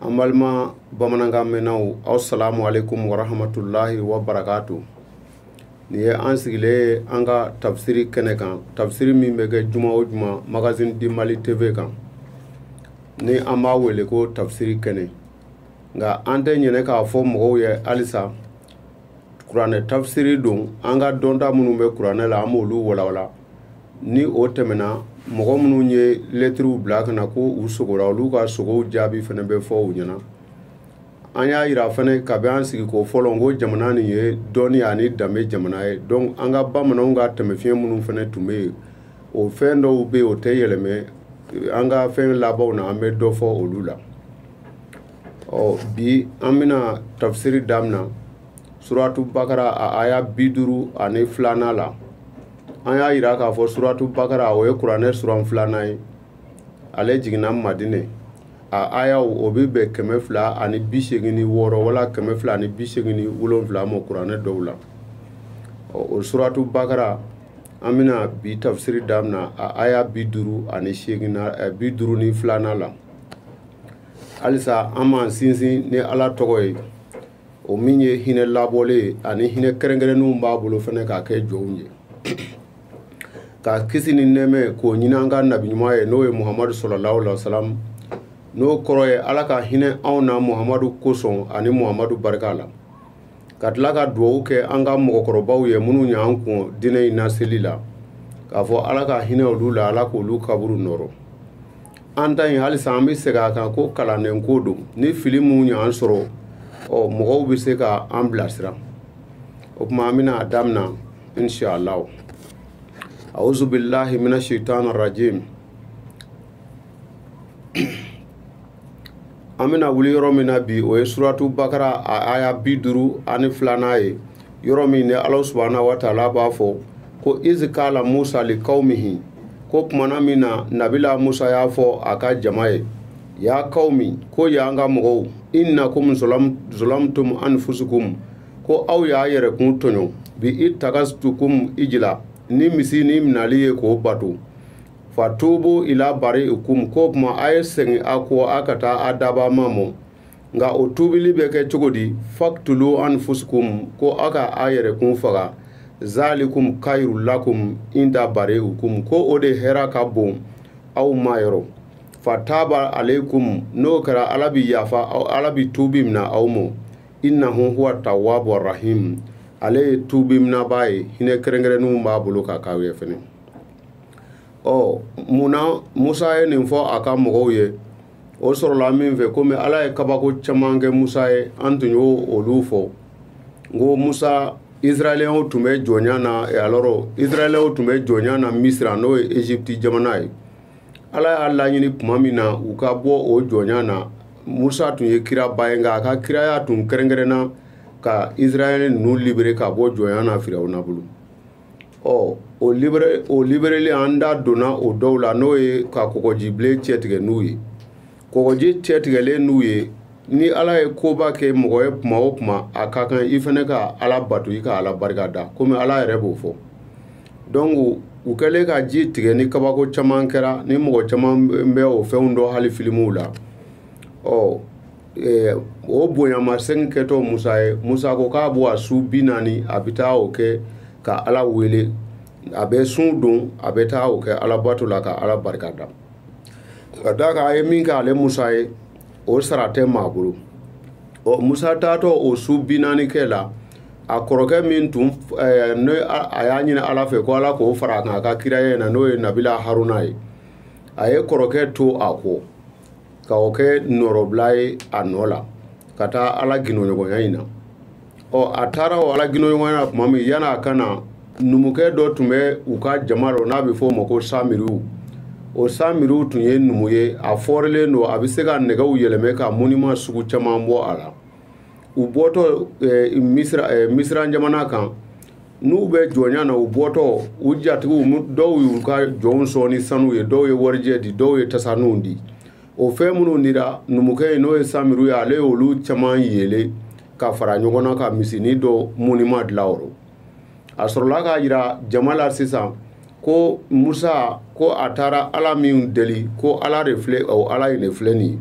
an balima bamanankan mɛnnaw asalamu aleykum warahamatulahi wa barakaatu nin ye an sigilen ye an ka tafsiri kɛnɛ kan tafsiri min bɛ kɛ juma o juma magazine du mali tv kan ni an b'a wele ko tafsiri kɛnɛ nka an tɛ ɲinɛ k'a fɔ mɔgɔw ye halisa kuranɛ tafsiri don an ka dɔnta minnu bɛ kuranɛ la an b'olu walawala ni o tɛmɛna mɔgɔ minnu ye lɛtiriw bila ka na ko u sogora olu ka sogow jaabi fana bɛ fɔ u ɲɛna an y'a yira fana kabi an sigiko fɔlɔ n ko jamana nin ye dɔnni ani danbe jamana ye donc an ka bamananw ka taamasiɲɛ minnu fana tun bɛ yen o fɛn dɔw bɛ yen o tɛ yɛlɛmɛ an ka fɛn labanw na an bɛ dɔ fɔ olu la ɔ bi an bɛna tafisiri daminɛ suratu bakara a aya bi duuru ani filanan la an y'a yira k'a fɔ suratu bakara o ye kuranɛ suran filanan ye ale jiginna madine a ayaw o bɛ bɛn kɛmɛ fila ani bi seegin ni wɔɔrɔ wala kɛmɛ fila ani bi seegin ni wolonwula ma kuranɛ dɔw la o suratu bakara an bɛna bi tafsiri damina a aya bi duuru ani seegin na eh, bi duuru ni filanan la halisa an b'an sinsin ni ala tɔgɔ ye o min ye hinɛ labɔlen ye ani hinɛ kɛrɛnkɛrɛnnenw b'a bolo fana k'a kɛ jɔnw ye ka kisi ni nɛɛmɛ k'o ɲini an ka nabi ɲuman ye n'o ye muhamadu salalahu alayhi wa salam n'o kɔrɔ ye ala ka hinɛ anw na muhamadu kosɔn ani muhamadu barika la ka tila ka dugawu kɛ an ka mɔgɔkɔrɔbaw ye minnu ye an kɔn diinɛ in laseli la k'a fɔ ala ka hinɛ olu la ala k'olu kaburu nɔɔrɔ an ta in halisa an bɛ segin a kan ko kalandenko don ni fili minnu y'an sɔrɔ ɔ mɔgɔw bɛ se ka an bila sira o tuma an bɛna a damina inshallah auzu billahi mina shaitan rajim an bɛna wuli yɔrɔ min na bi o ye suratu bakara a aya bi duuru ani filanan ye yɔrɔ min ni ala subahana wa taala b'a fɔ ko izi kaala musa li kawmihi ko kumana min na nabila musa y'a fɔ a ka jama ye ya kawmi ko ya n ka mɔgɔw inna kum zolamtum anfusukum ko aw y'a yɛrɛkun tɔɲɔ bi i tagastukum ijila ni misinin minali ye k'o bato fa tubu ila bari kum ko kuma a ye segin a kɔ a ka taa a dabaa ma mɔ nka o tubili bɛ kɛ cogo di faktulu anfusukum ko a ka a yɛrɛkun faga zalikum kayru lakum inda bari kum ko o de hɛra ka bon aw ma yɔrɔ fa taaba aleikum n'o kɛra ala bi yafa ala bi tubi mina aw mɔ innahu huwa tawabu rahim ale ye tubi minabaa ye hinɛ kɛrɛnkɛrɛnnenw b'a bolo ka k'aw ye fɛnɛ ɔ mun na musa ye nin fɔ a ka mɔgɔw ye o sɔrɔla min fɛ komi ala ye kabako caman kɛ musa ye an tun y'olu fɔ ko musa israɛlɛnw tun bɛ jɔnya na alɔrɔ israɛlɛnw tun bɛ jɔnya na misira n'o ye egypte jamana ye ala y'a laɲini tuma min na u ka bɔ o jɔnya na musa tun ye kiraba ye nka a ka kiraya tun kɛrɛnkɛrɛnna ka israɛl ninnu libere ka bɔ jɔnya na firawuna bolo ɔ o libere o libereli an da donna o dɔw la n'o ye ka kɔgɔjibilen cɛtigɛ n'u ye kɔgɔji cɛtigɛlen n'u ye ni ala ye koba kɛ mɔgɔ ye kuma o kuma a ka kan i fana ka ala bato i ka ala barika da komi ala yɛrɛ b'o fɔ dɔnku u kɛlen ka ji tigɛ ni kabako caman kɛra ni mɔgɔ caman bɛ o fɛnw dɔn hali filimuw la ɔ eh, o bonyamasegin kɛtɔ musa ye musa ko k'a bɔ a su bi naani a bɛ taa o kɛ ka ala wele a bɛ sun don a bɛ taa o kɛ alabato la ka ala barika da ka d'a kan a ye min kɛ ale musa ye o sara tɛ maa bolo ɔ musa taatɔ o su bi naani kɛ la a kɔrɔkɛ min tun eh, ne a y'a ɲini ala fɛ ko ala k'o fara a kan a ka kiraya in na n'o ye nabila haruna ye a ye kɔrɔkɛ to a kɔ ka o kɛ nɔrɔbila ye a nɔ la ka taa ala gindoɲɔgɔnya in na ɔ a taara o ala gindoɲɔgɔnya tuma min yan'a ka na numukɛ dɔ tun bɛ u ka jama rɔ n'a bɛ fɔ o ma ko samiriw o samiriw tun ye numu ye a fɔrilen don a bɛ se ka nɛgɛw yɛlɛmɛ ka moniman sugu caman bɔ a la u bɔtɔ misira jamana kan n'u bɛ jɔnya na u bɔtɔ u jatigiw dɔw y'u ka jɔnw sɔn ni sanu ye dɔw ye warijɛ di dɔw ye tasaninw di o fɛn minnu dira numukɛ ye n'o ye samiru ye ale y'olu caman yeele ka fara ɲɔgɔn na ka misinin dɔ moniman dilan o rɔ a sɔrɔla k'a jira jama la sisan ko musa ko a taara ala min deli ko ala de filɛ o ala in de filɛ nin ye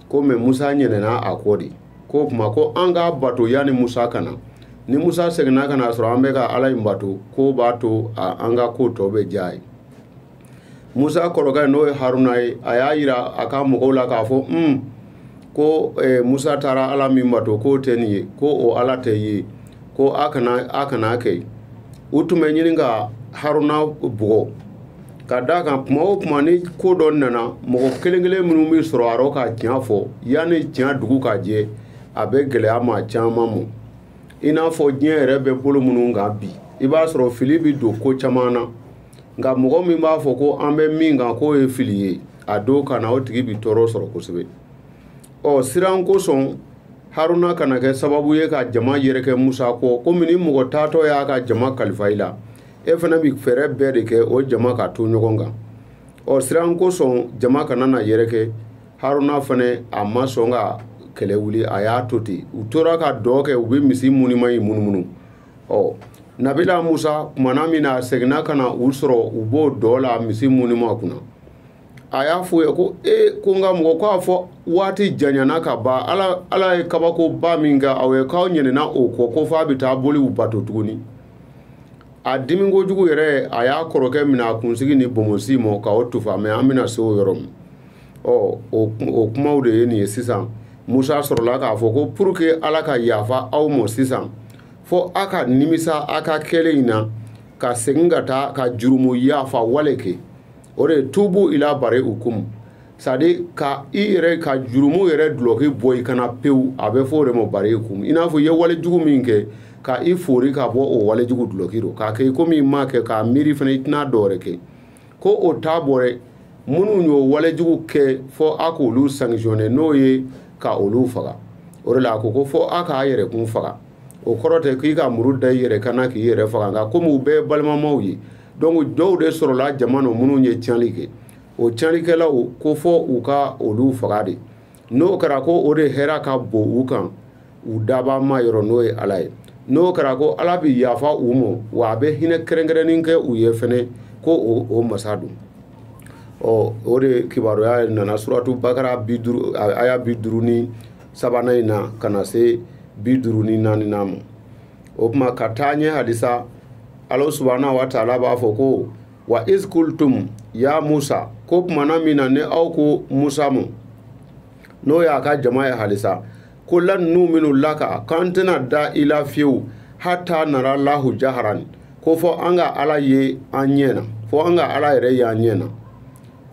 komi musa ɲinɛna a kɔ de k'o tuma ko an k'a bato yanni musa ka na ni musa seginna ka na a sɔrɔ an bɛ ka ala in bato k'o b'a to an ka ko tɔ bɛ diya a ye musa kɔrɔkɛ n'o ye haruna ye a y'a yira a ka mɔgɔw la k'a fɔ un ko eh, musa taara ala min bato k'o tɛ nin ye ko o ala tɛ ye ko a kana a kana kɛ u tun bɛ ɲini ka haruna bugɔ ka d'a kan kuma o kuma ni ko dɔ nana mɔgɔ kelen kelen minnu bɛ sɔrɔ a rɔ ka tiɲɛ fɔ yanni tiɲɛ dugu ka jɛ a bɛ gɛlɛya maa caman mɔ i n'a fɔ diɲɛ yɛrɛ bɛ bolo minnu kan bi i b'a sɔrɔ fili bɛ don ko caman na nka mɔgɔ min b'a fɔ ko an bɛ min kan k'o ye fili ye a don ka na o tigi bɛ tɔɔrɔ sɔrɔ kosɛbɛ ɔ siran kosɔn haruna kana kɛ sababu ye ka jama yɛrɛkɛ musa kɔ komi ni mɔgɔ taatɔ y'a ka jama kalifa i la e fana bɛ fɛɛrɛ bɛɛ de kɛ o jama ka to ɲɔgɔn kan o siran kosɔn jama kana na yɛrɛkɛ haruna fana a ma sɔn ka kɛlɛ wuli a y'a to ten u tora ka dɔn kɛ u bɛ misi munima in munumunu ɔ nabila musa kumana min na a seginna ka na u sɔrɔ u b'o dɔn na misi munima kunna a y'a f'u ye ko e ko n ka mɔgɔ k'a fɔ waati janyana ka ban ala ala ye kabakoba min kɛ aw ye k'aw ɲinɛna o kɔ ko f'a bɛ taa boliw bato tuguni a dimi kojugu yɛrɛ a y'a kɔrɔkɛ minɛ a kunsigi ni bonbonsi ma ka o tufa mɛ an bɛna se o yɔrɔ min ɔ o kumaw de ye nin ye sisan musa sɔrɔla k'a fɔ ko pour que ala ka yafa aw ma sisan fo a ka nimisa a ka kɛlen in na ka segin ka taa ka jurumu yafa wale kɛ o de ye tubu ila bari u kumu sadi ka i yɛrɛ ka jurumu yɛrɛ dulɔki bɔ i kan na pewu a bɛ fɔ o de ma bari kun i n'a fɔ i ye wale jugu min kɛ ka i fori ka bɔ o wale jugu dulɔki don k'a kɛ i komi i m'a kɛ k'a miiri fana i tɛna dɔ wɛrɛ kɛ ko o t'a bɔ dɛ minnu y'o wale jugu kɛ fɔ a k'olu sankisɔnɛ n'o ye ka olu faga o de la a ko ko fɔ a k'a yɛrɛkun faga o kɔrɔ tɛ k'i ka muru da i yɛrɛ kan na k'i yɛrɛ faga nka komi u bɛɛ ye balimamaw ye donc dɔw de sɔrɔla jama nɔ minnu ye tiɲɛli kɛ o tiɲɛlikɛlaw ko fɔ u ka olu faga de n'o kɛra ko o de hɛrɛ ka bon u kan u dabaa ma yɔrɔ n'o ye ala ye n'o kɛra ko ala bɛ yafa u ma wa a bɛ hinɛ kɛrɛnkɛrɛnnen kɛ u ye fana ko o masa don ɔ o de kibaruya ye nana suratu bakara bi duuru aya bi duuru ni sabanan in na ka na se bi duuru ni naani na ma o tuma ka taa ɲɛ halisa ala subahana wa taala b'a fɔ ko wa izkultum ya musa ko kumana min na ni aw ko musa ma n'o y'a ka jama ye halisa ko lan nuumina laka k'an tɛna da i la fiyewu hata nara lahu jaharan ko fɔ an ka ala ye an ɲɛ na fɔ an ka ala yɛrɛ ye an ɲɛ na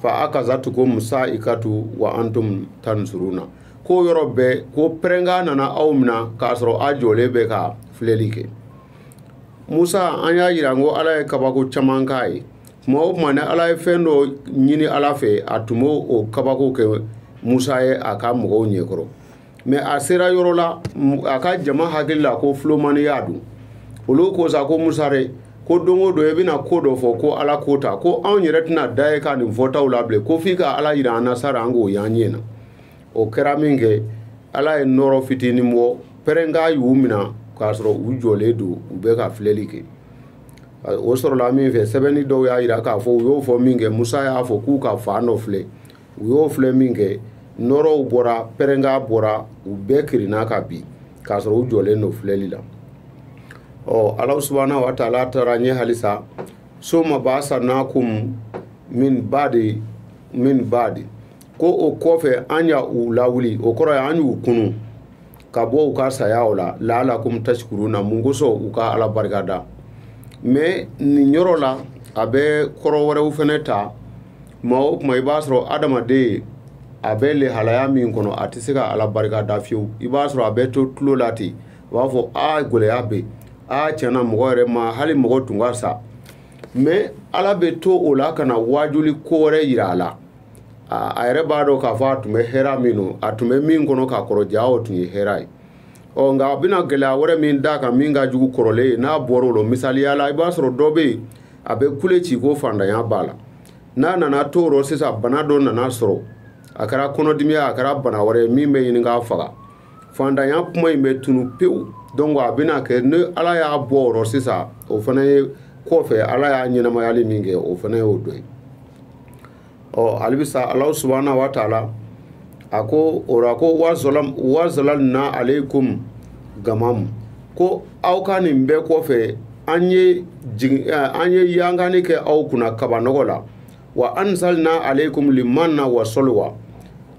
fa akazatukum sa'ikatu wa antum tansuruna ko o yɔrɔ bɛɛ ko pɛrɛnkan nana aw minɛ k'a sɔrɔ a jɔlen bɛ ka filɛli kɛ musa an y'a jira ko ala ye kabako caman k'a ye tuma o tuma ni ale ye fɛn dɔ ɲini ala fɛ a tun b'o o kabako kɛ musa ye a ka mɔgɔw ɲɛkɔrɔ mɛ a sera yɔrɔ la a ka jama hakili la ko filomaniya don olu ko sa ko musa dɛ ko don o don i bɛna ko dɔ fɔ ko ala ko tan ko anw yɛrɛ tɛna da i ka nin fɔtaw la bilen ko f'i ka ala jira an na sara an k'o y'an ɲɛ na o kɛra min kɛ ala ye nɔrɔ fitinin bɔ pɛrɛnkan y'u minɛ k'a sɔrɔ u jɔlen don u bɛ ka filɛli kɛ o sɔrɔla min fɛ sɛbɛnni dɔw y'a yira k'a fɔ u y'o fɔ min kɛ musa y'a fɔ k'u ka fan dɔ filɛ u y'o filɛ min kɛ nɔrɔw bɔra pɛrɛnkan bɔra u bɛɛ kirinna ka bin k'a sɔrɔ u jɔlen don filɛli la ɔ ala subahana wa taala taara ɲɛ halisa suma basanakum min badi min badi ko o kɔfɛ an y'aw lawuli o kɔrɔ ye an y'u kunun ka bɔ u ka saya o la laalakum tasikuruna mun kosɔn u ka ala barika da mɛ nin yɔrɔ la a bɛ kɔrɔ wɛrɛw fana ta maa o kuma i b'a sɔrɔ adamaden a bɛ lehalaya min kɔnɔ a tɛ se ka ala barika da fiyewu i b'a sɔrɔ a bɛ to tulo la ten u b'a fɔ a gɛlɛya bɛ a tiɲɛna mɔgɔ yɛrɛ ma hali mɔgɔ tun ka sa mɛ ala bɛ to o la ka na waajuli ko wɛrɛ yira a la a yɛrɛ b'a dɔn k'a fɔ a tun bɛ hɛrɛ min na a tun bɛ min kɔnɔ ka kɔrɔ jaa o tun ye hɛrɛ ye ɔ nka a bɛna gɛlɛya wɛrɛ min d'a kan min ka jugu kɔrɔlen ye n'a bɔra o la misaliya la i b'a sɔrɔ dɔ bɛ yen a bɛ kule ci ko fantanya b'a la n'a nana to o rɔ sisan bana dɔ nan'a sɔrɔ a kɛra kɔnɔdimi ye a kɛra bana wɛrɛ ye min bɛ ɲini k'a faga fantanya kuma in bɛ tunu pewu dɔnki a bɛna kɛ ni ala y'a bɔ o rɔ sisan o fana ye kɔfɛ ala y'a ɲɛnamayali min kɛ o fana y'o dɔ ye ɔ hali bi sa ala subahana wa taala a ko o ko wa zalalna alaykum gamamu ko aw ka nin bɛɛ kɔfɛ an ye an ye yankanni kɛ aw kunna kabanɔgɔ la wa anzalna alaykum limanna wa salwa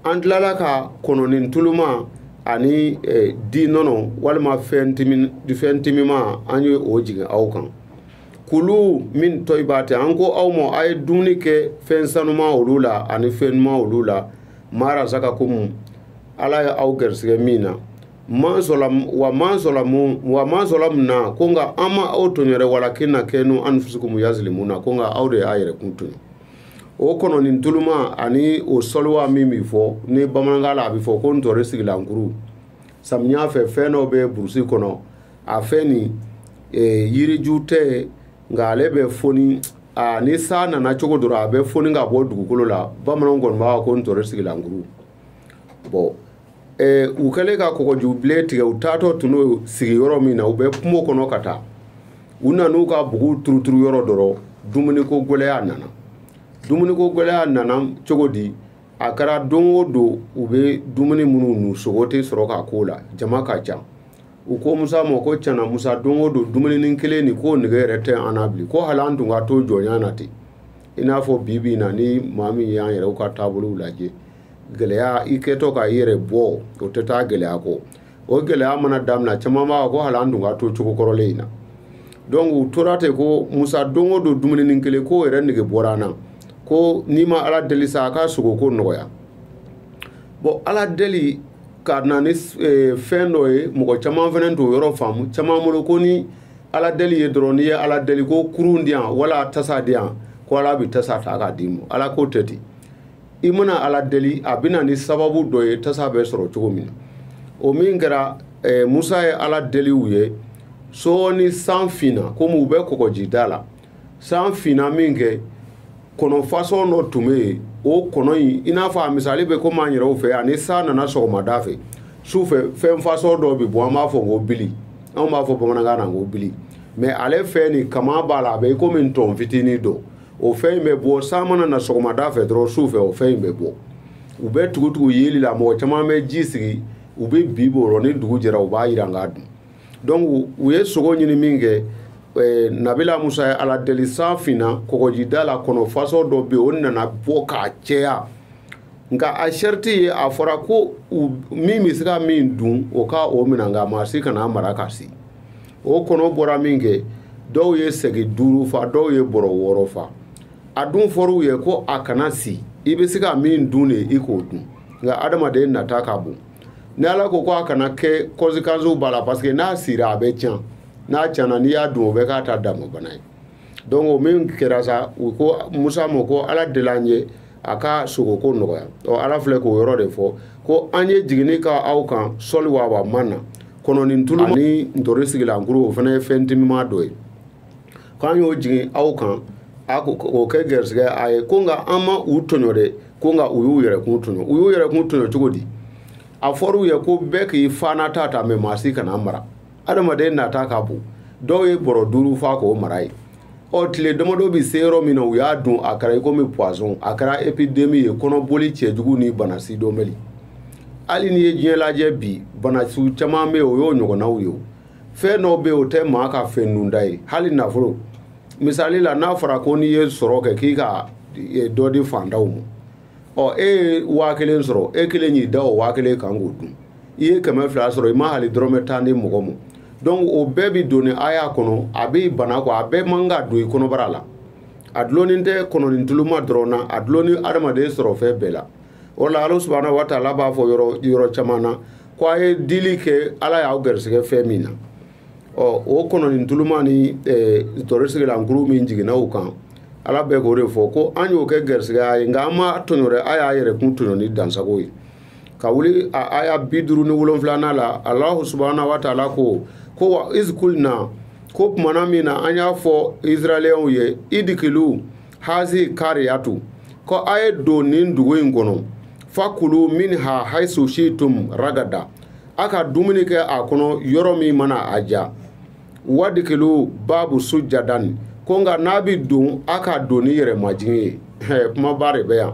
an tilala ka kɔnɔnin tuluma ani eh, di nɔnɔ walima fɛn timi fɛn timima an ye o jigin aw kan kulu min tayibati an ko aw ma a ye dumuni kɛ fɛn sanuman olu la ani fɛn ɲuman olu la ma razakakum ala ye aw gɛrisigɛ min na ma zalam wa ma zalamu wa ma zalamuna ko nka an ma aw tɔɲɔ walakin kanu anfusakumu yazilimuna ko nka aw de y'aw yɛrɛkun tɔɲɔ o kɔnɔni tuluma ani o sɔliwa min bɛ fɔ ni bamanankan la a bɛ fɔ ko ntɔri sigilankuru samiya fɛ fɛn dɔw bɛ burusi kɔnɔ a fɛn nin eh, yiriju tɛ nka ale bɛ foni a ni san nana cogo dɔrɔn a bɛ foni ka bɔ dugukolo la bamananw kɔni b'a ko ntɔri sigilankuru bɔn Eh, u kɛlen ka kɔgɔjubilen tigɛ u taatɔ tun don sigiyɔrɔ min na u bɛ kungo kɔnɔ ka taa u nana u ka buguw turuturu yɔrɔ dɔ rɔ dumuniko gɛlɛya nana dumuniko gɛlɛya nana cogo di a kɛra don o don u bɛ dumuni minnu dun sogo tɛ sɔrɔ k'a k'o la jama ka ca u ko musa ma ko cɛna musa don o don dumuni kelen nin ko nege yɛrɛ tɛ an na bilen ko hali an tun ka to jɔnya na ten i n'a fɔ bi bi na ni maa min y'an yɛrɛw ka taabolo lajɛ gɛlɛya i kɛtɔ ka i yɛrɛ bɔ o tɛ taa gɛlɛya kɔ o gɛlɛya mana daminɛ caman b'a ko hali an tun ka to cogo kɔrɔlen in na donc u tora ten ko musa don o don dumuninin kelen k'o yɛrɛ nege bɔra an na ko n'i ma ala deli sa a ka sogo ko nɔgɔya bɔn ala deli ka na ni e, fɛn dɔ ye mɔgɔ caman fana t'o yɔrɔ faamu caman bolo ko ni ala deli ye dɔrɔn n'i ye ala deli ko kurun di yan wala tasa di yan ko ala bɛ tasa ta k'a d'i ma ala k'o tɛ ten i mana ala deli a bɛna ni sababu dɔ ye tasa bɛ sɔrɔ cogo min na o min kɛra eh, musa ye ala deli u ye sɔɔni san finna komi u bɛ kɔgɔjida la san finna min kɛ kɔnɔ fasɔn dɔ tun bɛ yen o kɔnɔ in i n'a fɔ a misali bɛ komi an yɛrɛw fɛ yan ni san nana sɔgɔmada fɛ su fɛ fɛn fasɔn dɔ bɛ bɔ an b'a fɔ ko bili anw b'a fɔ bamanankan na ko bili mɛ ale fɛnnin kaman b'a la a bɛ i komi ntɔn fitinin don o fɛn in bɛ bɔ san mana na sɔgɔmada fɛ dɔrɔn su fɛ o fɛn in bɛ bɔ u bɛ tugutugu yeli la mɔgɔ caman bɛ ji sigi u bɛ bin o rɔ ni dugu jɛra u b'a jiran k'a dun donc u ye sogo ɲini min kɛ eh, nabila musa ye ala deli san finna kɔgɔjida la kɔnɔ fasɔn dɔ bɛ yen o nana bɔ k'a cɛya nka a sɛriti ye a fɔra ko min bɛ se ka min dun o ka o minɛ nka maa si kan'a mara ka si o kɔnɔ bɔra min kɛ dɔw ye sɛgi duuru fa dɔw ye bɔrɔ wɔɔrɔ fa a dun fɔr'u ye ko a kana si i bɛ se ka min dun de i k'o dun nka adamaden nata ka bon ni ala ko ko a kana kɛ kɔnsekansiw b'a la parce que n'a sira a bɛ tiɲɛ n'a tiɲɛna n'i y'a dun o bɛ k'a ta dama bana ye donc o min kɛra sa u ko musa ma ko ala deli an ye a ka sogoko nɔgɔya ɔ ala filɛ k'o yɔrɔ de fɔ ko an ye jiginni k'aw kan salwa wa manna kɔnɔnin tulu ani ntorisigilan kuru o fana ye fɛn timima dɔ ye k'an y'o jigin aw kan a ko o kɛ gɛrisigɛ a ye ko nka an ma u tɔɲɔ dɛ ko nka u y'u yɛrɛkun tɔɲɔ u y'u yɛrɛkun tɔɲɔ cogo di a fɔr'u ye ko bɛɛ k'i fana ta ta mɛ maa si kan'a mara adamaden nata ka bon dɔw ye bɔrɔ duuru fa k'o mara yen ɔ tile damadɔ bɛ se yɔrɔ min na u y'a dun a kɛra i komi poison a kɛra epidemi ye kɔnɔboli cɛjugu ni bana sidɔnbali hali n'i ye diɲɛ lajɛ bi banasiw caman bɛ yen o y'o ɲɔgɔnnaw ye o fɛn dɔw bɛ yen o tɛ maa ka fɛn dunta ye hali nafolo misali la n'a fɔra ko n'i ye sɔrɔ kɛ k'i ka dɔ di fantanw ma ɔ e ye waa kelen sɔrɔ e kelen y'i da o waa kelen kan k'o dun i ye kɛmɛ fila sɔrɔ i ma hali dɔrɔmɛ tan di mɔgɔ ma donc o bɛɛ bi don nin aya kɔnɔ a b'i bana ko a bɛɛ man ka don i kɔnɔbara la a dulonnin tɛ kɔnɔnin tuluma dɔrɔn na a dulonnin adamaden sɔrɔ fɛn bɛɛ la o la ala subahana wa taala b'a fɔ yɔrɔ yɔrɔ caman na ko a ye dili kɛ ala y'aw garisigɛ fɛn min na ɔ o kɔnɔni tuluma ni tɔɔrɔ sigila nkuru min jiginna o kan ala bɛ k'o de fɔ ko an y'o kɛ garisigɛya ye nka an ma tɔɲɔ dɛ a y'a yɛrɛ kun tɔɲɔ ni dansago ye ka wuli a aya bi duuru ni wolonfilanan la alahu subahana wa taala ko ko wa izi kulina ko tumana min na an y'a fɔ israɛlɛnw ye idikiliw hazi kariyatu ko a ye don nin dugu in kɔnɔ fakulu minha haisu situm ragada a ka dumuni kɛ a kɔnɔ yɔrɔ min mana a diya wadikiliw babu sujadan ko nka n'a bɛ don a ka don ni yɛrɛ majigin ye kumaba de bɛ yan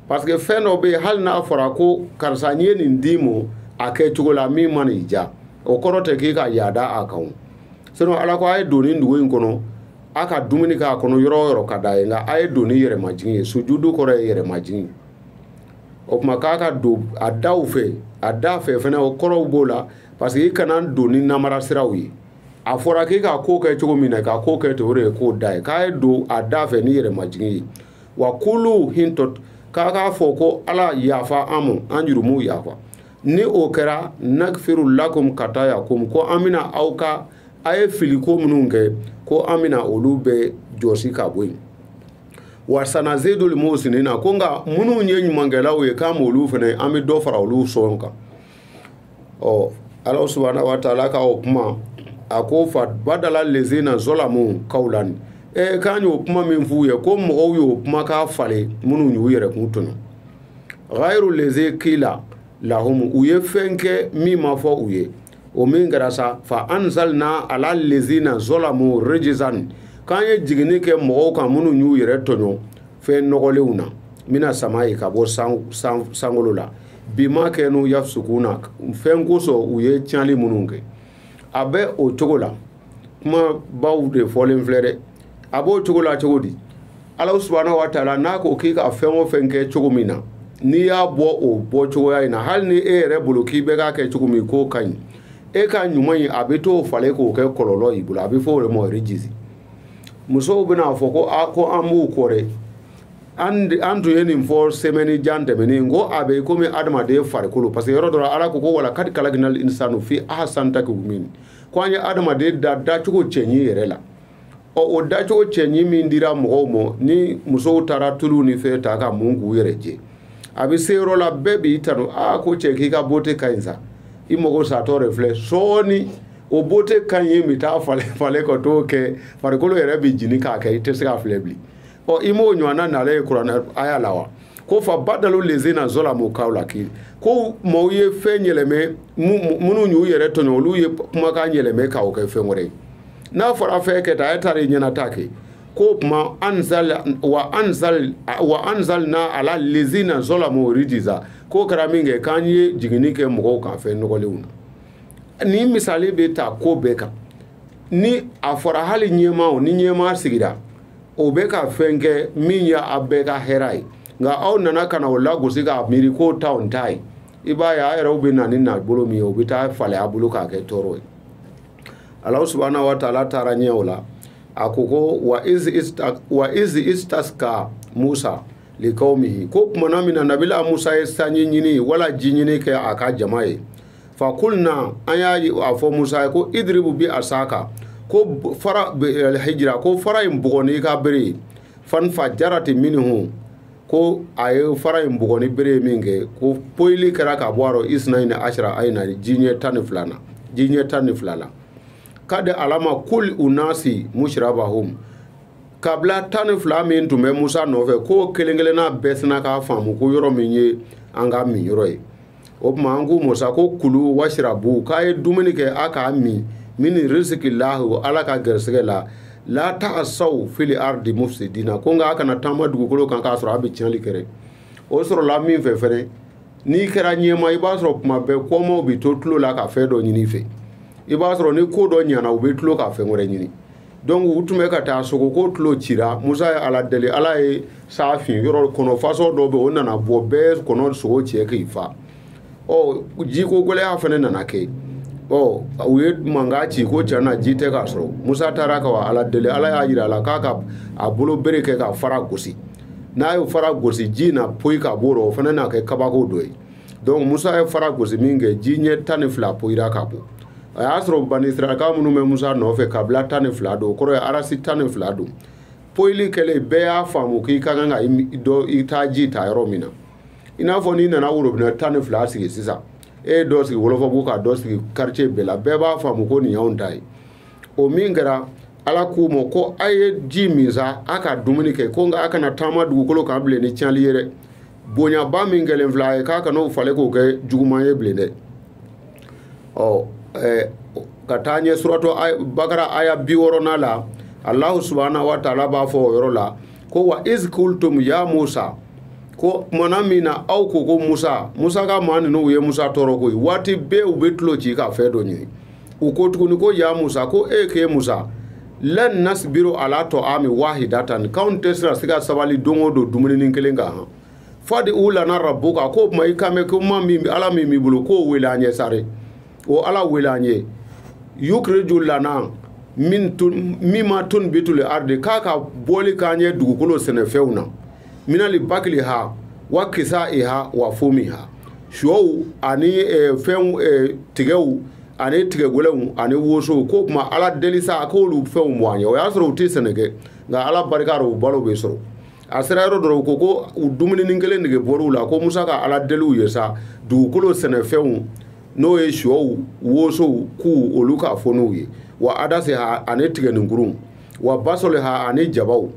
parce que fɛn dɔ bɛ yen hali n'a fɔra ko karisa n ye nin d'i ma a kɛ cogo la min mana i diya o kɔrɔ tɛ k'i ka yaada a kan sinon ala ko a ye don nin dugu in kɔnɔ a ka dumuni kɛ a kɔnɔ yɔrɔ o yɔrɔ ka d'a ye nka a ye don ni yɛrɛ majigin ye sujudu kɔrɔ ye yɛrɛ majigin o tuma k'a ka don a daw fɛ a da fɛ fana kɔrɔw b'o la parce que i kana don ni namara siraw ye a fɔra k'i ka ko kɛ cogo min na ka ko kɛ ten o de ye ko da ye k'a ye don a da fɛ ni yɛrɛ majigin ye wa kulu hitatun k'a k'a fɔ ko ala yafa an ma an jurumuw yafa ni o kɛra nakifiru lakum kataayakum ko an bɛna aw ka a ye filiko minnu kɛ ko an bɛna olu bɛɛ jɔsi ka bɔ yen wa sanazedul musinina ko nka minnu ye ɲumankɛlaw ye k'an b'olu fɛnɛ an bɛ dɔ fara olu sɔn kan ɔ ala subahana wa taala ka o kuma a ko fa badala lezina zɔlamu kawlani e k'an y'o kuma min f'u ye ko mɔgɔw y'o kuma k'a falen minnu y'u yɛrɛ kun tɔɲɔ ghayru leze kila lahum u ye fɛn kɛ min ma fɔ u ye o min kɛra sa fa anzalina ala lezina zolamu rejizan k'an ye jiginni kɛ mɔgɔw kan minnu y'u yɛrɛ tɔɲɔ fɛn nɔgɔlenw na mina samayi ka bɔ sankolo la bima kanu yafusukuna fɛn kosɔn u ye tiɲɛli minnu kɛ a bɛ o cogo la kuma baw de fɔlen filɛ dɛ a b'o cogo la cogo di ala subahana wa taala n'a ko k'i ka fɛn o fɛn kɛ cogo min na n'i y'a bɔ o bɔ cogoya in na hali ni e yɛrɛ bolo k'i bɛ k'a kɛ cogo min k'o ka ɲi e ka ɲuman in a bɛ t'o falen k'o kɛ kɔlɔlɔ y'i bolo a bɛ fɔ o de ma rejisi musow bɛna fɔ ko a ko an b'u kɔ dɛ an tun ye nin fɔ sɛmɛni jan tɛmɛnen ko a bɛ komi adamaden farikolo parce que yɔrɔ dɔ ala ko ko walakadi kalaginal insanu fi ahasanu takwimin ko an ye adamaden da dacogo cɛɲi yɛrɛ la ɔ o dacogo cɛɲi min dira mɔgɔw ma ni musow taara tulu ni fɛn ta ka mun k'u yɛrɛ jɛ a bɛ se yɔrɔ la bɛɛ b'i tanu aa ko cɛ k'i ka bote ka ɲi sa i mɔgɔ satɔ de filɛ sɔɔni o bote ka ɲi bɛ taa falen falen ka t'o kɛ farikolo yɛrɛ bɛ ɲini ka kɛ i tɛ se k'a filɛ bilen ɔ i m'o ɲɔgɔnna nalen ye kuranɛ aya la wa ko fa badalu lezina zɔlamu kawla k'i ko mɔgɔw ye fɛn yɛlɛmɛ minnu y'u yɛrɛ tɔɲɔ olu ye kumakan yɛlɛmɛ k'o kɛ fɛn wɛrɛ ye n'a fɔra fɛn kɛ tan e taara i ɲɛna ta kɛ ko kuma anzal wa anzal wa anzalna ala lezina zɔlamu rijiza k'o kɛra min kɛ k'an ye jiginni kɛ mɔgɔw kan fɛn nɔgɔlenw na nin misali bɛ taa ko bɛɛ kan ni a fɔra hali ɲɛmaaw ni ɲɛmaa sigira o bɛ ka fɛn kɛ min ye a bɛɛ ka hɛrɛ ye nka aw nana ka na o lagosi k'a miiri k'o t'an ta ye i b'a ye a yɛrɛw bɛ na ni nabolo min ye o bɛ taa falen a bolo k'a kɛ tɔɔrɔ ye alahu subahana wa taala taara ɲɛ o la a ko ko wa izi wa izi istaska musa likawmihi ko tumana min na nabila musa ye sanji ɲini wala ji ɲini kɛ a ka jama ye fa kulna an y'a fɔ musa ye ko idiribu bi asaka hajara ko fara in bugɔ n'i ka bere ye fanfajarati minihu ko a ye fara in bugɔ ni bere ye min kɛ ko poyili kɛra ka bɔ a rɔ isina ni asira ayina ji ɲɛ tan ni fila na ji ɲɛ tan ni fila la kadi alima kulu unasi masirabahum kabila tan ni fila min tun bɛ musa nɔfɛ k'o kelen kelenna bɛɛ sinna k'a faamu ko yɔrɔ min ye an ka minyɔrɔ ye o tuma an k'u ma sa ko kulu wasirabu k'a ye dumuni kɛ a ka min mini risiki lahu ala ka gɛrɛsɛgɛ la la taasaw fili ardi mufsidina ko nka a kana taama dugukolo kan k'a sɔrɔ a bɛ tiɲɛli kɛ dɛ o sɔrɔla min fɛ fɛnɛ n'i kɛra ɲɛmaa i b'a sɔrɔ tuma bɛɛ kɔmaaw bɛ to tulo la ka fɛn dɔ ɲini i fɛ i b'a sɔrɔ ni ko dɔ ɲana u bɛ tulo ka fɛn wɛrɛ ɲini donc u tun bɛ ka taa sogo ko tulo cira musa ye ala deli ala ye sa fin yɔrɔ kɔnɔ façon dɔ bɛ o nana bɔ bɛɛ kɔnɔsogo cɛ k'i fa ɔ jiko gɛlɛya fana nana kɛ ɔ u ye mankan ci ko cɛ na ji tɛ ka sɔrɔ musa taara ka wa ala deli ala y'a jira a la k'a ka a bolo bere kɛ ka fara gosi n'a ye fara gosi ji na poyi ka b'o rɔ o fana na kɛ kabako dɔ ye donc musa ye fara gosi min kɛ ji ɲɛ tan ni fila poyira ka bɔ a y'a sɔrɔ banisiraka minnu bɛ musa nɔfɛ kabila tan ni fila don o kɔrɔ ye arasi tan ni fila don poyili kɛlen bɛɛ y'a faamu k'i ka kan ka dɔ i taa ji ta yɔrɔ min na i n'a fɔ n'i nana worobinɛ tan ni fila sigi sisan e ye dɔ sigi wolofabugu ka dɔ sigi quartier bɛɛ la bɛɛ b'a faamu ko nin y'anw ta ye o min kɛra ala k'u ma ko a ye ji min sa a ka dumuni kɛ ko nka a kana taama dugukolo kan bilen ni tiɲɛli ye dɛ bonyaba min kɛlen filɛ a ye k'a kan'o falen k'o kɛ juguman ye bilen dɛ ɔ ka taa ɲɛ suratu bakara aya bi wɔɔrɔnan la alahu subahana wa taala b'a fɔ o yɔrɔ la ko wa izi kultum ya musa ko tumana min na aw ko ko musa musa ka maa ninnu u ye musa tɔɔrɔ koyi waati bɛɛ u bɛ tulo ci ka fɛn dɔ ɲini u ko tuguni ko ya musa ko e k'e musa lan nasbiru ala toami wahidatan k'anw tɛ sira se ka sabali don o don dumuninin kelen kan han fadiu lana rabuka k'o tuma i kan bɛ ko ma ala min b'i bolo k'o wele an ye sare o ala wele an ye yukiriju lana minma tunbituli ardi k'a ka bɔli k'an ye dugukolo sɛnɛfɛnw na minali bakiliha wa kisaiha wa fomiha sɔw ani eh, fɛnw eh, tigɛw ani tigɛgɛlɛnw ani wosow ko kuma ala deli sa k'olu fɛnw mɔ an ye o y'a sɔrɔ u tɛ sɛnɛ kɛ nka ala barika rɔ u balo bɛ sɔrɔ a sera yɔrɔ dɔ rɔ u ko ko u dumuninin kelen nege bɔr'u la ko musa ka ala deli u ye sa dugukolo sɛnɛfɛnw n'o ye sɔw wosow kuw olu k'a fɔ n'u ye wa adaseha ani tigɛninkurunw wa basɔliha ani jabaw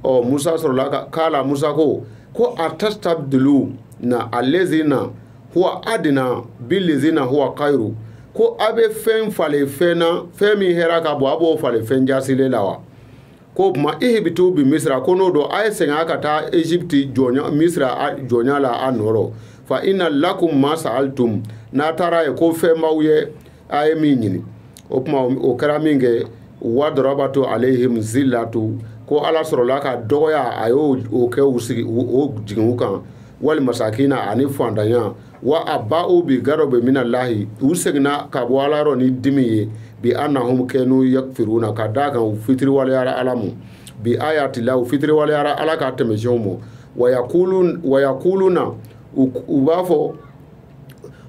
ɔ musa sɔrɔla ka kala musa ko ko atastabduluna alezina huwa adina bilezina huwa kairu ko a bɛ fɛn falen fɛn na fɛn min hɛra ka bon a b'o falen fɛn jaasilen la wa k'o tuma ihibitu bi misira ko n'o don a ye segin a ka taa egypte jɔnya misira jɔnya la a nɔ rɔ fa ina lakum ma sa'altum n'a taara yen ko fɛn b'aw ye a ye min ɲini o tuma o kɛra minkɛ wa dɔrɔbato alehim zillato ko ala sɔrɔla ka dɔgɔya a y'o o kɛ u sigi o jigin u kan wali masakina ani fantanya wa abao bi gadɔbɛ minalahi u seginna ka bɔ ala yɔrɔ ni dimi ye bi annahum kɛnu yakfiruna ka d'a kan u fitiriwaleyara ala mɔ bi ayatila u fitiriwaleyara ala ka tɛmɛsiyɛnw mɔ wa yakuluna u b'a fɔ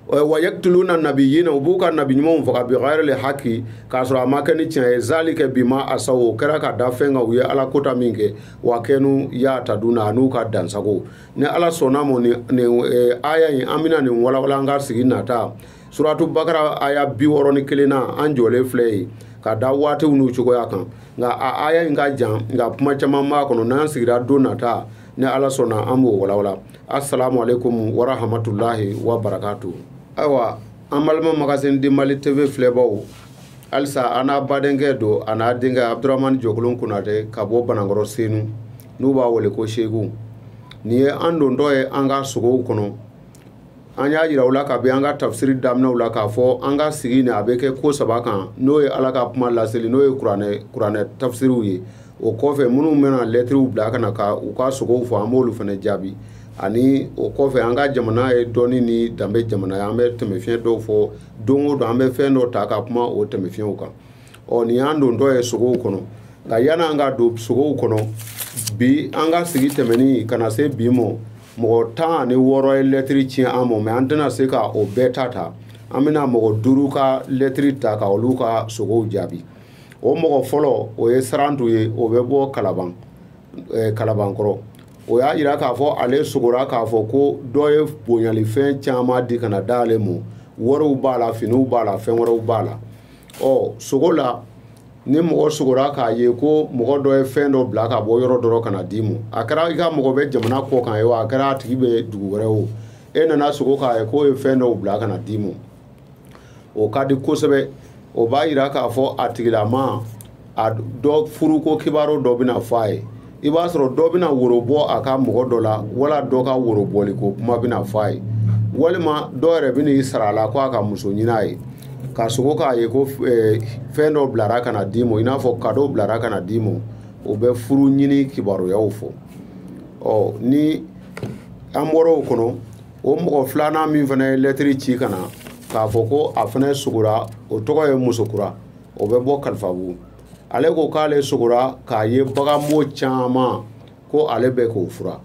wa yaktuluna nabiyina u b'u ka nabi ɲumanw faga bi ghayri haki k'a sɔrɔ a ma kɛ ni tiɲɛ ye zalika bima asaw o kɛra ka da fɛn kan u ye ala kota minkɛ wa kɛnu yataduna an'u ka dansagon ni ala sɔnna a ma nin eh, aya in an bɛna nin walawala an ka sigi nata suratu bakara aya bi wɔɔrɔ ni kelen na an jɔlen filɛ yen ka da waatiw n'u cogoya kan nka a aya in ka jan nka kuma caman b'a kɔnɔ n'an sigira don nata ni ala sɔnna an b'o walawala assalamu alaikum wa rahmatullahi wa barakatu ayiwa an balima magazine du mali tv filɛbaw halisa an n'a badenkɛ don a n'a denkɛ abdurahmani jɔkolon kunnatɛ ka bɔ banankɔrɔ senu n'u b'a wele ko seku nin ye an dontɔ ye an ka sogow kɔnɔ an y'a yira aw la kabi an ka tafsiri daminɛw la k'a fɔ an ka sigi nin a bɛ kɛ ko saba kan n'o ye ala ka kuma laseli n'o ye kuranɛ tafsiriw ye o kɔfɛ minnu bɛna lɛtiriw bila ka na ka u ka sogow fɔ an b'olu fana jaabi ani o kɔfɛ an ka jamana ye dɔnni ni danbe jamana ye an bɛ tɛmɛ fi fiɲɛyɛn dɔw fɔ don o don an bɛ fɛn dɔ ta ka kuma o tɛmɛ fiɲɛyɛnw kan ɔ nin y'an dontɔ ye sogow kɔnɔ nka yann'an ka don sogow kɔnɔ bi an ka sigi tɛmɛnen ka na se bi ma mɔgɔ tan ni wɔɔrɔ ye lɛtiri ci an ma mɛ an tɛna se ka o bɛɛ ta ta an bɛna mɔgɔ duuru ka lɛtiri ta ka olu ka sogow jaabi o mɔgɔ fɔlɔ o ye sarantu ye o bɛ bɔ kalaban eh, kalabankɔrɔ o y'a yira k'a fɔ ale sogora k'a fɔ ko dɔ ye bonyalifɛn caman di ka na di ale ma wariw b'a la finiw b'a la fɛn wɛrɛw b'a la ɔ sogo la ni mɔgɔ sogora k'a ye ko mɔgɔ dɔ ye fɛn dɔ bila ka bɔ yɔrɔ dɔ ka na d'i ma a kɛra i ka mɔgɔ bɛ jamana kɔkan ye wa a kɛra a tigi bɛ dugu wɛrɛ o e nana sogo k'a ye k'o ye fɛn dɔw bila ka na d'i ma o ka di kosɛbɛ o b'a yira k'a fɔ a tigilamaa dɔ furuko kibaru dɔ bɛna fɔ a ye i b'a sɔrɔ dɔ bɛna woro bɔ a ka mɔgɔ dɔ la wala dɔ ka worobɔli ko kuma bɛna fɔ a ye walima dɔ yɛrɛ bɛna i sara a la ko a ka muso ɲini a ye ka sogo k'a ye ko eh, fɛn dɔ bilara ka na d'i ma i n'a fɔ kadow bilara ka na d'i ma o bɛ furu ɲini kibaruyaw fɔ ɔ ni an bɔra o kɔnɔ o mɔgɔ filanan min fana ye lɛtiri ci ka na k'a fɔ ko a fana sogora o tɔgɔ ye musokura o bɛ bɔ kalifabugu ale ko k'ale sogora k'a ye baganbo caman ko ale bɛ k'o fura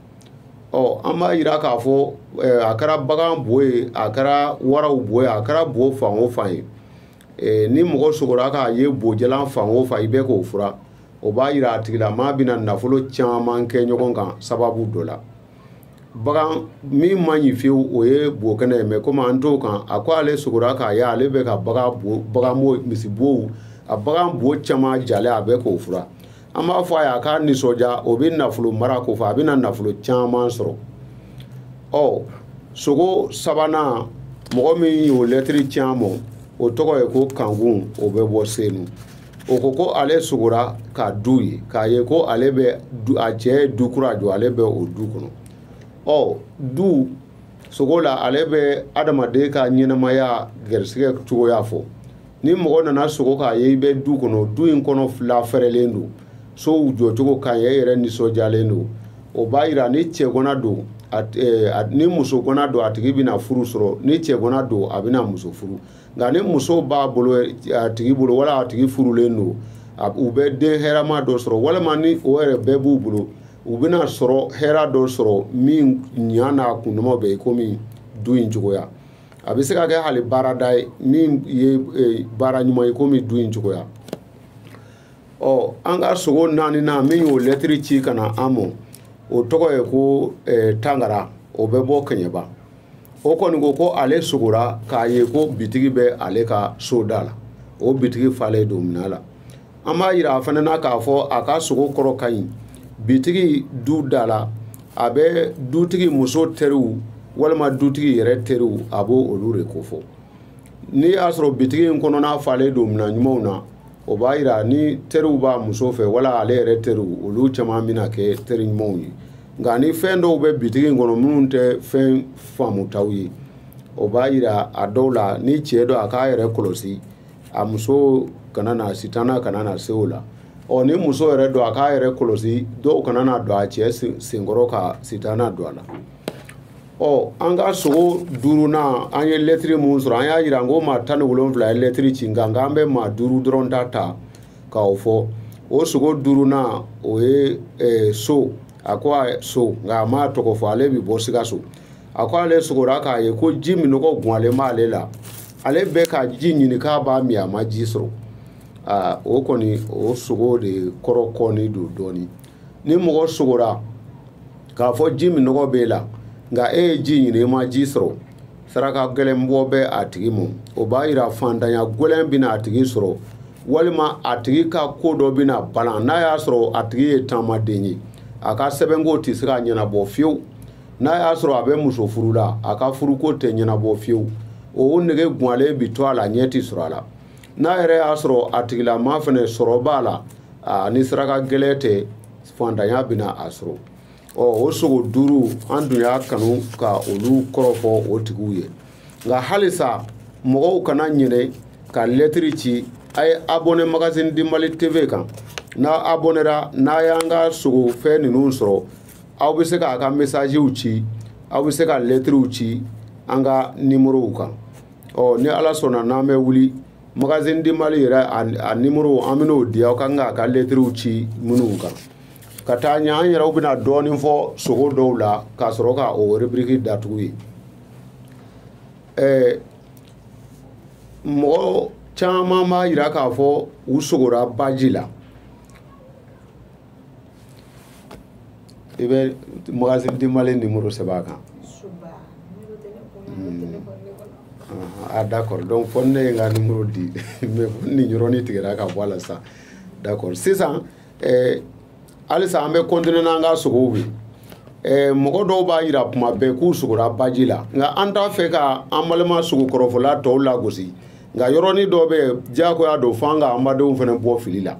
ɔ an b'a yira k'a fɔ eh, a kɛra bagan bo ye a kɛra waraw bo ye a kɛra bo fɛn o fɛn ye eh, ni mɔgɔ sogora k'a ye bojalan fɛn o fɛn i bɛ k'o fura o b'a yira a tigilamaa bɛna nafolo caman kɛ ɲɔgɔn kan sababu dɔ la bagan min man ɲi fewu o ye bo kɛnɛ ye mɛ komi an t'o kan a ko ale sogora k'a ye ale bɛ ka bagan bo bagan bo misibow a bagan bo caman jalen a bɛ k'o fura an b'a fɔ a ye a k'a nisɔndiya o bɛ nafolo mara ko fɔ a bɛna nafolo caman sɔrɔ ɔ sogo sabanan mɔgɔ min y'o lɛtiri ci an ma o tɔgɔ ye ko kankun o bɛ bɔ senu o ko ko ale sogora ka du ye k'a ye ko ale bɛ a cɛ ye du kura jɔ ale bɛ o du kɔnɔ ɔ du sogo la ale bɛ adamaden ka ɲɛnamaya garisigɛ cogoya fɔ ni mɔgɔ nana sogo k'a ye i bɛ du kɔnɔ du in kɔnɔ lafɛrɛlen don sow jɔcogo ka ɲi e yɛrɛ nisɔndiyalen don o b'a yira ni cɛganan don ni musoganan don a tigi bɛna furu sɔrɔ ni cɛganan don a bɛna muso furu nka ni muso b'a bolo a tigi bolo wala a tigi furulen don u bɛ den hɛrɛma dɔ sɔrɔ walima ni o yɛrɛ bɛɛ b'u bolo u bɛna sɔrɔ hɛrɛ dɔ sɔrɔ min ɲa n'a kundama bɛ i komi du in cogoya a bɛ se ka kɛ hali baarada ye min ye e, baara ɲuman ye komi du in cogoya ɔ an ka sogo naaninan min y'o lɛtiri ci ka na an mɔ o tɔgɔ ye ko e, tangara o bɛ bɔ kɛɲɛba o kɔni ko ko ale sogora k'a ye ko bitigi bɛ ale ka so da la o bitigi falen don minɛn la an b'a yira a fana na k'a fɔ a ka sogo kɔrɔ ka ɲi bitigi du da la a bɛ dutigi muso teriw walima dutigi yɛrɛ teriw a b'olu de kofɔ n'i y'a sɔrɔ bitigi in kɔnɔna falen don minɛn ɲumanw na o b'a yira ni teriw b'a muso fɛ wala ale yɛrɛ teriw olu caman bɛna kɛ teri ɲumanw ye nka ni fɛn dɔw bɛ bitigi in kɔnɔ minnu tɛ fɛn faamutaw ye o b'a yira a dɔw la ni cɛ don a k'a yɛrɛ kɔlɔsi a muso kana na sitana kana na se o la ɔ ni muso yɛrɛ don a k'a yɛrɛ kɔlɔsi dɔw kana na don a cɛ senkɔrɔ ka sitana don a la ɔ an ka sogo duurunan an ye lɛtiri min sɔrɔ an y'a jira n ko maa tan ni wolonwula ye lɛtiri ci nka nka an bɛ maa duuru dɔrɔn ta ta k'o fɔ o sogo duurunan o ye eh, so a ko a so nka a m'a tɔgɔ fɔ ale bɛ bɔ sikaso a ko ale sogora k'a ye ko ji minnɔgɔ gwanlen b'ale la ale bɛ ka ji ɲini k'a b'a min a ma ji sɔrɔ aa o kɔni o sogo de kɔrɔ kɔni don dɔɔnin ni mɔgɔ sogora k'a fɔ ji minnɔgɔ b'e la nka e ye ji ɲini i ma ji sɔrɔ saraka gɛlɛn bɔ bɛ a tigi mɔ o b'a yira fantanya gɛlɛn bɛna a tigi sɔrɔ walima a tigi ka ko dɔ bɛna balan n'a y'a sɔrɔ a tigi ye taamaden ye a ka sɛbɛnko tɛ se ka ɲɛnabɔ fiyewu n'a y'a sɔrɔ a bɛ muso furu la a ka furuko tɛ ɲɛnabɔ fiyewu o nege gwanlen bi to a la ɲɛ tɛ sɔrɔ a la n'a yɛrɛ y'a sɔrɔ a tigilama fana sɔrɔ b'a la ni saraka gɛlɛn tɛ fantanya bɛna a sɔrɔ ɔ o sogo duuru an dun y'a kanu ka olu kɔrɔ fɔ o tigiw ye nka halisa mɔgɔw kana ɲinɛ ka lɛtiri ci a ye abɔnɛ magazine du mali tv kan n'a abɔnɛra n'a y'an ka sogo fɛn ninnu sɔrɔ aw bɛ se k'a ka mesaziw ci aw bɛ se ka lɛtiriw ci an ka nimorow kan ɔ ni ala sɔnna n'an bɛ wuli magazine du mali yɛrɛ a nimoro an bɛn'o di aw kan k'a ka lɛtiriw ci minnu kan ka taa ɲɛ an yɛrɛw bɛna dɔɔnin fɔ sogo dɔw la k'a sɔrɔ ka o rubriki datugu ye ɛɛ mɔgɔ caman b'a yira k'a fɔ u sogora baji la i bɛ mɔgɔsi dimalen nimoro sɛbɛn a kan a d'accord donc fɔ ne ye n ka nimoro di mais nin yɔrɔnin tigɛra ka bɔ a la sisan d'accord sisan eh, halisa an bɛ continuer n'an ka sogow ye eh, mɔgɔ dɔw b'a yira kuma bɛɛ k'u sogora baji la nka an t'a fɛ ka an balima sogo kɔrɔfɔla tɔw lagosi nka yɔrɔnin dɔ bɛ diyagoya don fo an ka an badenw fana bɔ fili la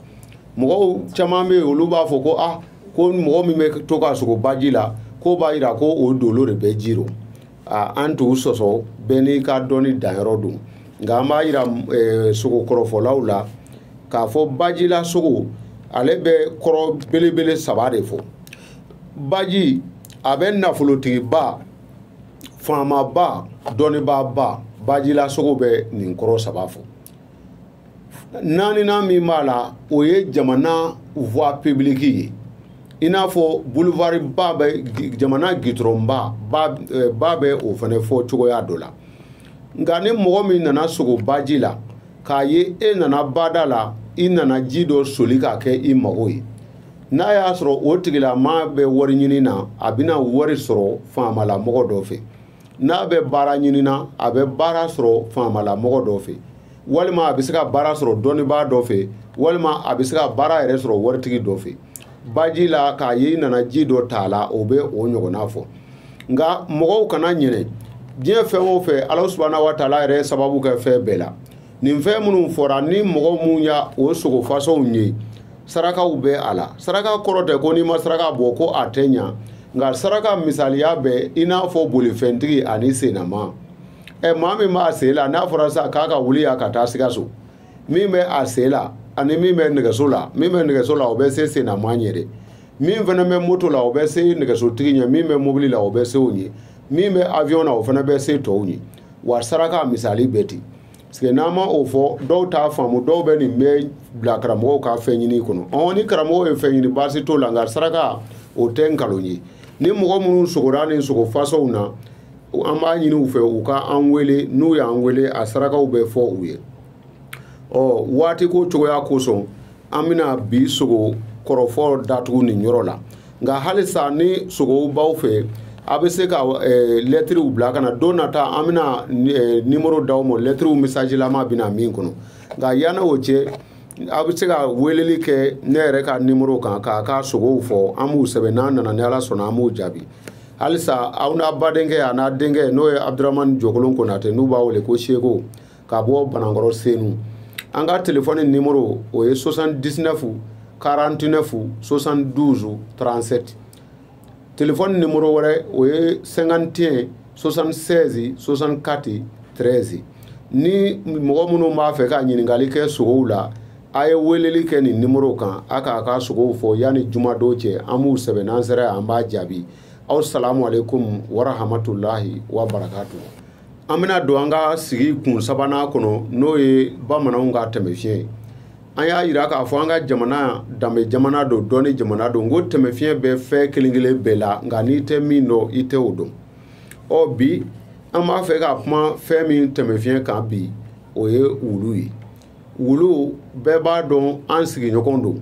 mɔgɔw caman bɛ olu b'a fɔ ko ah ko mɔgɔ min bɛ to ka sogo baji la ko b'a yira ko o dolo de bɛ ji rɔ an t'u sɔsɔ bɛɛ n'i ka dɔnni danyɔrɔ don nka an b'a yira eh, sogo kɔrɔfɔlaw la k'a fɔ bajila sogo ale bɛ kɔrɔ belebele saba de fɔ baji a bɛ nafolotigiba faamaba dɔnnibaaba bajila sogo bɛ nin kɔrɔ saba fɔ naaninan min b'a la o ye jamana voie publique ye i n'a fɔ boulevard ba bɛ jamana gitɔrɔn ba ba eh, bɛ o fana fɔ cogoya dɔ la nka ni mɔgɔ min nana sogo baji la k'a ye e nana bada la i nana ji dɔ soli k'a kɛ i mago ye n'a y'a sɔrɔ o tigilamaa bɛ wari ɲini na a bɛna wari sɔrɔ faamalamɔgɔ dɔ fɛ n'a bɛ baara ɲini na a bɛ baara sɔrɔ faamala mɔgɔ dɔ fɛ walima a bɛ se ka baara sɔrɔ dɔnnibaa dɔ fɛ walima a bɛ se ka baara yɛrɛ sɔrɔ waritigi dɔ fɛ baji la k'a ye i nana ji dɔ ta a la o bɛ o ɲɔgɔnna fɔ nka mɔgɔw kana ɲinɛ diɲɛ fɛn o fɛn ala subahana wa taala yɛrɛ sababu kɛ fɛn bɛɛ la nin fɛn minnu fɔra ni mɔgɔ minnu ye o sogo fasɔnw ye sarakaw bɛ a la saraka kɔrɔ tɛ ko n'i ma saraka bɔ ko a tɛ ɲa nka saraka misaliya bɛ i n'a fɔ bolifɛntigi ani sennama ɛ maa min b'a sen la n'a fɔra sa k'a ka wuli yan ka taa sikaso min bɛ a sen la ani min bɛ nɛgɛso la min bɛ nɛgɛso la o bɛ se sennama ɲɛ de min fana bɛ moto la o bɛ se nɛgɛsotigi ɲɛ min bɛ mobili la o bɛ se o ɲɛ min bɛ avion na o fana bɛ se tɔw ɲɛ wa saraka misali bɛ ten parce que n'an ma o fɔ dɔw t'a faamu dɔw bɛ nin bɛɛ bila karamɔgɔw ka fɛn ɲini kɔnɔ ɔ ni karamɔgɔw ye fɛn ɲini baasi t'o la nka saraka o tɛ nkalon ye ni mɔgɔ minnu sogora nin sogo fasɔnw na an b'a ɲini u fɛ u ka an wele n'u y'an wele a sarakaw bɛ fɔ u ye ɔ waati ko cogoya kosɔn an bɛna bi sogo kɔrɔfɔ datugu nin yɔrɔ la nka halisa ni sogow b'aw fɛ a bɛ se ka eh, lɛtiriw bila ka na don nata an bɛna eh, nimoro d'aw ma lɛtiriw mesajilama bɛ na min kɔnɔ nka yanni o cɛ a bɛ se ka weleli kɛ ne yɛrɛ ka nimoro kan k'a ka sogow fɔ an b'u sɛbɛn n'an nana ni ala sɔnna an b'u jaabi halisa aw n'a badenkɛ a n'a denkɛ n'o ye abudurahmani jɔkolon konatɛ n'u b'a wele ko seko ka bɔ banankɔrɔ senu an ka telefɔni nimoro o ye 79 49 72 37 telefɔni nimoro wɛrɛ o ye 51 76 64 13 ni mɔgɔ minnu b'a fɛ ka ɲininkali kɛ sogow la a ye weleli kɛ nin nimoro kan a k'a ka sogow fɔ yanni jumadon cɛ an b'u sɛbɛn n'an sera an b'a jaabi aw salamu aleykum warahamatulahi wa barakatu an bɛna don an ka sigi kun sabanan kɔnɔ n'o ye bamananw ka tɛmɛfiɲɛ ye an y'a jira k'a fɔ an ka jamana danbe jamana don dɔnni jamana don ko tɛmɛfiɲɛ bɛ fɛn kelen kelen bɛɛ la nka n'i tɛ min dɔn i tɛ o dɔn ɔ bi an b'a fɛ ka kuma fɛn min tɛmɛfiɲɛ kan bi o ye wulu ye wulu bɛɛ b'a dɔn an sigiɲɔgɔn don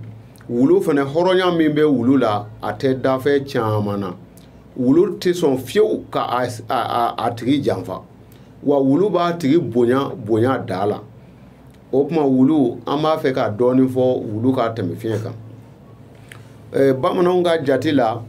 wulu fana hɔrɔnya min bɛ wulu la a tɛ danfɛn caman na wulu tɛ sɔn fiyewu ka a tigi janfa wa wulu b'a tigi bonya bonya da la o tuma wulu an b'a fɛ ka dɔɔnin fɔ wulu ka tɛmɛfiɲɛ kan eh, bamananw ka jate la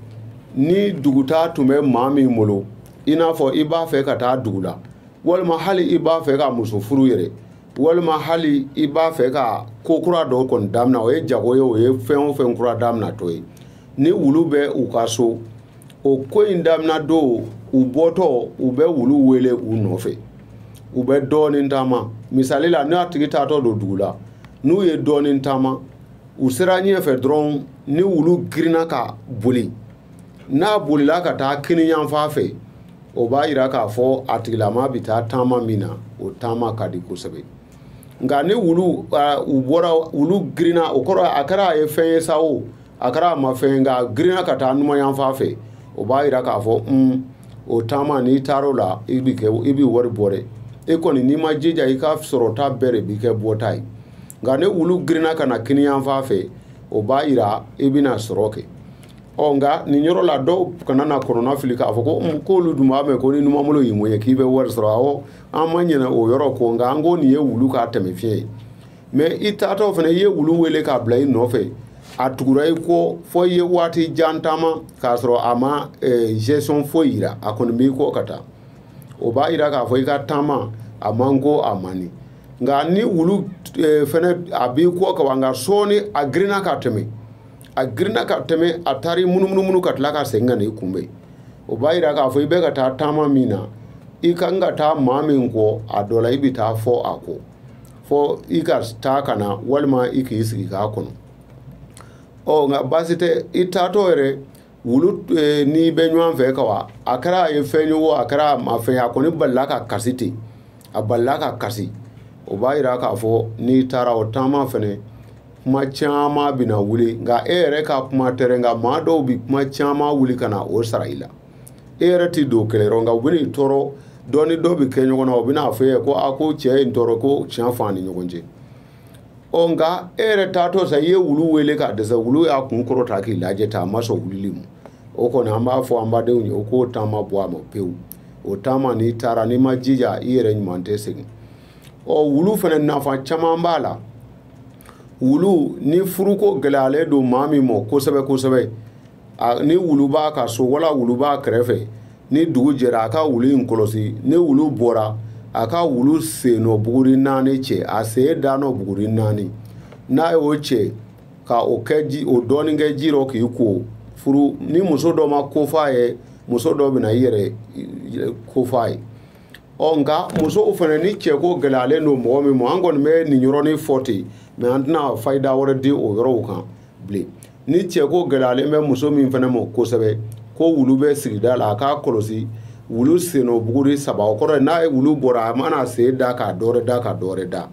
ni dugutaa tun bɛ maa min bolo i n'a fɔ i b'a fɛ ka taa dugu la walima hali i b'a fɛ ka muso furu yɛrɛ walima hali i b'a fɛ ka ko kura dɔ kɔni damina o ye jago ye o ye fɛn o fɛn kura daminatɔ ye ni wulu bɛ u ka so o ko in daminɛ don u bɔtɔ u bɛ wulu wele u nɔfɛ u bɛ dɔɔnin taama misali la n'a tigi taatɔ don dugu la n'u ye dɔɔnin taama u sera ɲɛfɛ dɔrɔn ni wulu girinna ka boli n'a bolila ka taa kiniyanfan fɛ o b'a yira k'a fɔ a tigilama bɛ taa taama min na o taama ka di kosɛbɛ nka ni wulu u bɔra wulu girinna o kɔrɔ a kɛra a ye fɛn ye sa o a kɛra a ma fɛn nk'a girinna ka taa numanyanfan fɛ o b'a jira k'a fɔ un o taama n'i taar'o la i bi kɛ i bi wari bɔ dɛ e kɔni n'i ma jija i ka sɔrɔta bɛɛ de bi kɛ bɔta ye nka ni wulu girinna ka na kiniyanfan fɛ o b'a jira i bɛna sɔrɔ kɛ ɔ nka nin yɔrɔ la dɔw kana na kɔnɔnafili k'a fɔ ko k'olu dun b'a mɛn ko ni numanbolo y'i mɔye k'i bɛ wari sɔrɔ awɔ an ma ɲinɛ o yɔrɔ kɔ nka an ko nin ye wulu ka tɛmɛfiɲɛ ye mais i taatɔ fana i ye wulu wele k'a bila i nɔfɛ a tugura i kɔ fɔ i ye waati jan taama k'a sɔrɔ a ma eh, geste foyi yira a kɔni b'i kɔ ka taa o b'a yira k'a fɔ i ka taama a man ko a man di nka ni wulu eh, fana a b'i kɔ ka wa nka sɔɔni a girinna ka tɛmɛ a girinna ka tɛmɛ a taara i munumunumunu ka tila ka segin ka na i kunbɛn o b'a yira k'a fɔ i bɛ ka taa taama min na i ka kan ka taa maa min kɔ a dɔ la i bɛ taa fɔ a kɔ fɔ i ka taa ka na walima i k'i sigi k'a kɔnɔ ɔ nka baasi tɛ i taatɔ yɛrɛ wulu e, n'i bɛ ɲɔgɔn fɛ ka wa a kɛra a ye fɛn ye o a kɛra a ma fɛn a kɔni balala ka kasi ten a balala ka kasi o b'a yira k'a fɔ n'i taara o taama fɛnɛ kuma caman bɛna wuli nka e yɛrɛ ka kuma tɛ dɛ nka maa dɔw bɛ kuma caman wuli ka na o sara i la e yɛrɛ tɛ don kɛlɛ yɔrɔ nka u bɛn'i tɔɔrɔ dɔ ni dɔ bɛ kɛ ɲɔgɔn na u bɛn'a fɔ e ye ko a ko cɛ ye n tɔɔrɔ ko tiɲɛ fɔ an ni ɲɔgɔn cɛ ɔ nka e yɛrɛ taatɔ sa i ye wulu wele k'a dɛsɛ wulu y'a kun kɔrɔta k'i lajɛ tan a ma sɔn wulili ma o kɔni an b'a fɔ an badenw ye o k'o taama bɔ a ma pewu o taama n'i taara n'i ma jija i yɛrɛ ɲuman tɛ segin ɔ wulu fana nafa caman b'a la wulu ni furuko gɛlɛyalen don maa min ma kosɛbɛ kosɛbɛ ni wulu b'a ka so wala wulu b'a kɛrɛfɛ ni dugu jɛra a ka wulu in kɔlɔsi ni wulu bɔra a ka wulu sen nɔ buguri naani cɛ a sen da nɔ buguri naani n'a y'o cɛ ka o kɛ ji o dɔɔnin kɛ ji rɔ k'i ko furu ni muso dɔ ma kof'a ye muso dɔ bɛna i yɛrɛ kof'a ye ɔ nka musow fana ni cɛko gɛlɛyalen don mɔgɔ min ma an kɔni bɛ nin yɔrɔnin fɔ ten mɛ an tɛna fayida wɛrɛ di o yɔrɔw kan bilen ni cɛ ko gɛlɛyalen bɛ muso min fana ma kosɛbɛ ko wulu bɛ sigida la a k'a kɔlɔsi wulu sennɔ buguri saba o kɔrɔ n'a ye wulu bɔra a mana sen da ka dɔwɛrɛ da ka dɔwɛrɛ da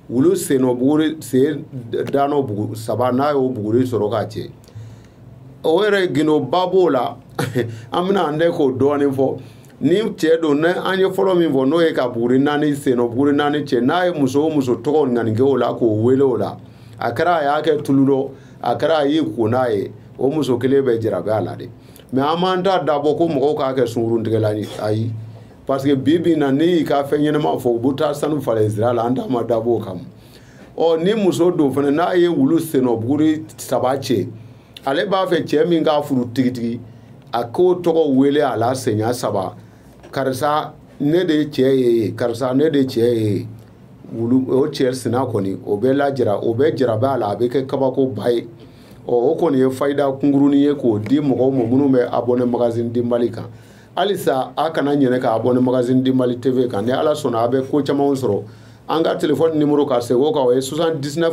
wulu sennɔ buguri sen danɔ bugu saba n'a y'o buguri sɔrɔ k'a cɛ o yɛrɛ gundoba b'o la an bɛna an dɛ k'o dɔɔnin fɔ ni cɛ don ne an ye fɔlɔ min fɔ n'o ye ka buguri naani sennɔ buguri naani cɛ n'a ye muso o muso tɔgɔ ŋaniya kɛ o la k'o wele o la a kɛra a y'a kɛ tulu dɔ a kɛra a y'i ko n'a ye o muso kelen bɛ jarabi a la de mɛ an m'an da dabɔ ko mɔgɔw k'a kɛ sungurun tigɛlan ye ayi parce que bi bi na ne y'i ka fɛn ɲɛnama fɔ u bɛ taa sanu falen sira la an da ma dabɔ o kama ɔ ni muso don fana n'a ye wulu sennɔ buguri saba cɛ ale b'a fɛ cɛ min k'a furu tigitigi a k'o tɔgɔ wele a la siɲɛ saba karisa ne de cɛ ye karisa ne de cɛ ye wulu o cɛ sina kɔni o bɛ jara o bɛ jarabi a la a bɛ kɛ kabakoba ye ɔ o kɔni ye fayida kunkurunnin ye k'o di mɔgɔw ma minnu bɛ abɔne magazine du mali kan halisa a kana ɲinɛ ka abɔne magazine du mali tv kan ni ala sɔnna a bɛ ko camanw sɔrɔ an ka telefɔni nimoro ka segin o kan o ye 79